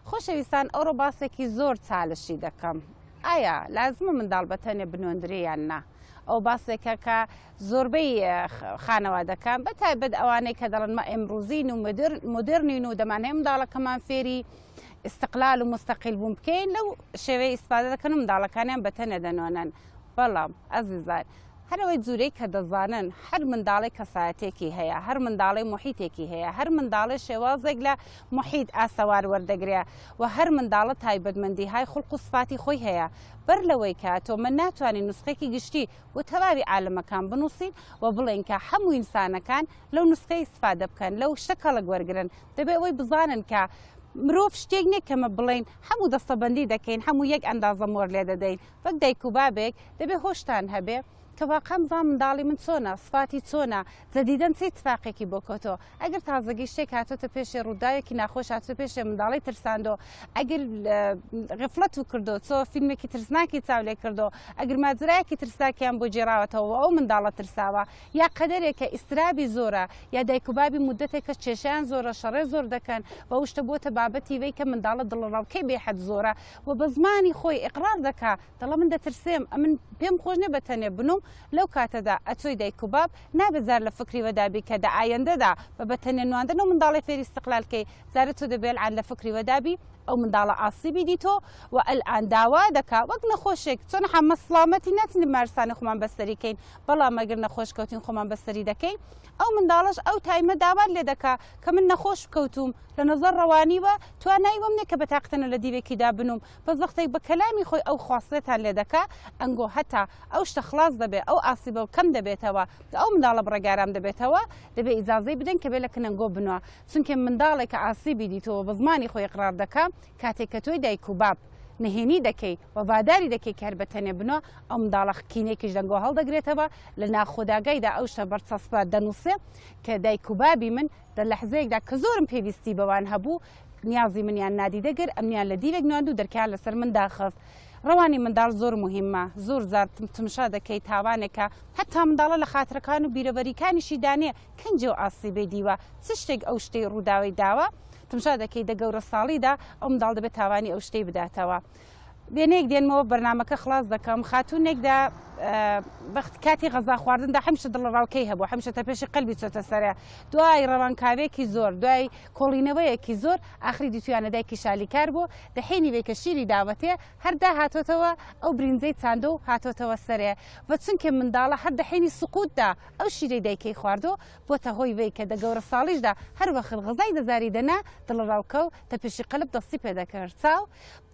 خۆشەویستان ئەوڕۆ باسێکی زۆر چالشی دەکەم ئایا لازمە منداڵ بە تەنێ بنۆندرێ یان نا ئەو باسێکە کە زۆربەی خانەوادەکان بە تایبەت ئەوانەی کە دەڵن مە ئێمروزین و مدررنین و دەمان هەیە منداڵەکەمان فێری استقلال و مستەقیل بوون بکەین لەو شێوەیە ئیسپادە دەکەن و منداڵەکانیان بە تەنێ دەنۆنن بەڵام ئەزیزان هەرەوەی جوورەی کە دەزانن هەر منداڵی کەسایەتێکی هەیە هەر منداڵی محیتێکی هەیە هەر منداڵی شێوازێک لە محیت ئاسەوار وەردەگرێ و هەر منداڵە تایبەتمەندیهای خوڵق و سفاتی خۆی هەیە بەر لەوەی کە تۆ من ناتوانین نوسخەیەکی گشتی بۆ تەواوی عالەمەکان بنوسین و بڵێین کە حەموو ئینسانەکان لەو نوسخەیە ئیسفادە بکەن لەو شتە کەڵک وەرگرن دەبێ ئەوەی بزانن کە مرۆڤ شتێک نییە کەمە بڵین هەموو دەستەبندی دەکەین هەموو یەک ئەندازە مۆر لێ دەدەین وەک دایک و بابێک دەبێ هۆشتان هەبێ کە واقعا بزان منداڵی من چۆنە سفاتی چۆنە لە دیدەن چ ئیتفاقێکی بۆ کۆتۆ؟ ئەگەر تازەگەی شتێک هاتۆتە پێشێ، ڕووداوێکی ناخۆش هاتۆتە پێشێ، منداڵی ترساندۆ، ئەگر غفلەت و کردۆ، چۆ فیلمێکی ترسناکی چاو لێ کردۆ، ئەگر ماجرایەکی ترسناکیان بۆ گێڕاوەتەوە و ئەو منداڵە ترساوە، یا قەدەرێک کە ئیسترابی زۆرە، یا دایک و بابی موددەتێکە کێشەیان زۆرە، شەڕێ زۆر دەکەن و ئەو شتە بۆتە بابەتی وەی کە منداڵە دڵەڕاوکێی بێ حەد زۆرە و بە زمانی خۆی ئیقرار دەکا، دەڵێ من دەترسێم، ئەمن پێم خۆش نیە بە تەنێ بنووم، لەو کاتەدا ئەتۆی دایک و باب نابێت زار لە فکری وەدا بی کە دە ئایەندەدا بە بە تەنێ نواندن ئەو منداڵەی فێری استقلال کەی زارە تۆ دەبێ الان لە فکری وەدا بی ئەو منداڵە ئاسیبی دیتۆ و الان داوا دەکا وەک نەخۆشێک چۆن حەمە سڵامەتی ناتنی بمارستانە خۆمان بەستەری کەین بەڵام ئەگەر نەخۆش کەوتین خۆمان بەستەری دەکەین ئەو منداڵەش ئەو تایمە داوات لێ دەکا کە من نەخۆش کەوتووم لە نەزەر ڕەوانیوە توانای وەم نیە کە بە تاقتەنە لە دیوێکی دا بنووم بەس وەختێک بە کەلامی خۆی ئەو خواستەتان لێ دەکا ئەنگۆ هەتا ئەو شتە خڵاس دەبێ ئەو ئاسیبە و کەم دەبێتەوە کە ئەو منداڵە بڕێک ئارام دەبێتەوە دەبێ ئیجازەی بدەین کە بێ لە کنەنگۆ بنوا چونکێ منداڵێک کە ئاسیبی دیتۆوە بە زمانی خۆی ئیقرار دەکا کاتێک کە تۆی دایک و باب نهێنی دەکەی و ڤاداری دەکەی کە هەر بە تەنێ بنوا ئەو منداڵە خکینێکیش دەنگۆ هەڵدەگرێتەوە لە ناخۆداگای دا ئەو شتە بەرچەسپە دەنووسێ کە دایک و بابی من دە لەحزەیەک دا کە زۆرم پێویستی بەوان هەبوو نیازی منیان نادیدە گر ئەمنیان لە دیوێک نواند و دەرکەیان لەسەر من داخست ڕەوانی منداڵ زۆر موهیمە زۆر جار تمشا دەکەی تاوانێکە هەتا منداڵە لە خاترەکان و بیرەوەریکانیشی دانێ کەنجێ و ئاسیبەی دیوە چ شتێک ئەو شتەی ڕووداوەی داوە تمشا دەکەی دە گەورە ساڵیدا ئەو منداڵ دەبێ تاوانی ئەو شتەی بداتەوە وێنەیەک دێنمەوە بەرنمەکە خلاص دەکەم خاتونێک دا بەخت کاتی غەزا خواردندا هەمشە دڵڕاوکەی هەبوو هەمشە تە پێشی قەلبی چۆتە سەرە دوای ڕەوانکاوێکی زۆر دوای کۆڵینەوەیەکی زۆر ئاخری دیتویانە دایکی شالیکار بوو دەحێنی بێ کە شیری داوەتێ هەردا هاتۆتەوە ئەو برینزەی چاندۆ و هاتۆتەوە سەرێ و چونکە منداڵە هەر دەحێنی سقوتدا ئەو شیرەی دایکەی خواردۆ بۆتە هۆی وی کە دە گەورە ساڵیشدا هەروەخر غەزای دەزاری دەنا دڵڕاوکە و تە پێشی قەلب دەستی پێدەکرد چاو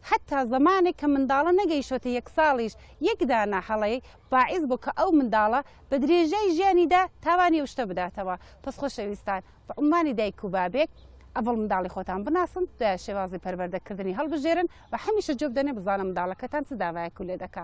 حەتتا زەمانێک کە منداڵە نەگەیشتۆتە یەک ساڵیش یەک دانە هەڵەی باعیس بوو کە ئەو منداڵە بە درێژای ژیانیدا تاوانی ئەو شتە بداتەوە. پس خۆشەویستان بە عوممانی دایک و بابێک ئەڤڵ منداڵی خۆتان بناسن دوایە شێوازی پەروەردە کردنی هەڵبژێرن و هەمیشە جوێ بدەنێ بزانە منداڵەکەتان چ داوایەک و لێ دەکا.